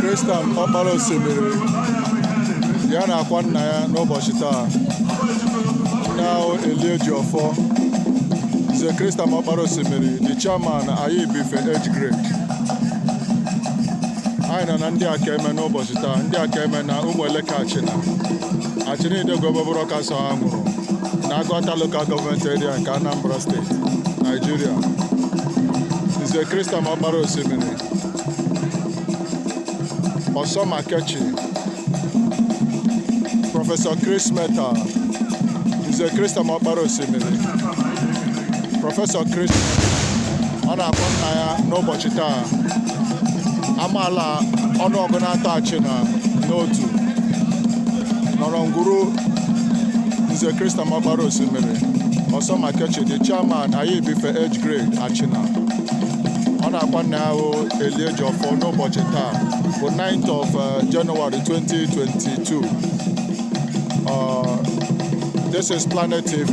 Christian ọkpara osimiri ya na-akwa nna ya n'ụbọchị taa nna ahụ Eliejiọfọ Nze Christian ọkpara osimiri the chairman anyị ebife age grade anyị nọ na ndị aka eme n'ụbọchị taa ndị aka eme na ụmụeleke achịna achịna idegwu egbe buru ọkụ asọghị anwụrụ na agụata lokal gọọmenti eria nke anambra steeti naijiria nze Christian ọkpara osimiri ọsọ makechi prọfesọ chris metal nze Christian ọkpara osimiri prọfesọ chris metal ọ na-akwa nna ya n'ụbọchị taa amaala ọnụ ọgụ na atọ achịna n'otu nọrọ ngwuru nze Christian ọkpara osimiri ọsọ makechi the chairman anyị ebife age grade achịna ọ na-akwa nna ya ahụ Eliejiọfọ n'ụbọchị taa bụ 9th of uh, January 2022 uh, this is Planet TV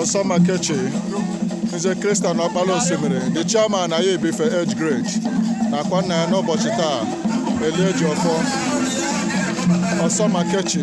Ọsọ Makechi Nze Christian Ọkpala Osimiri the chairman anyị ebife age grade na-akwa nna ya n'ụbọchị taa Eliejiọfọ Ọsọmakechi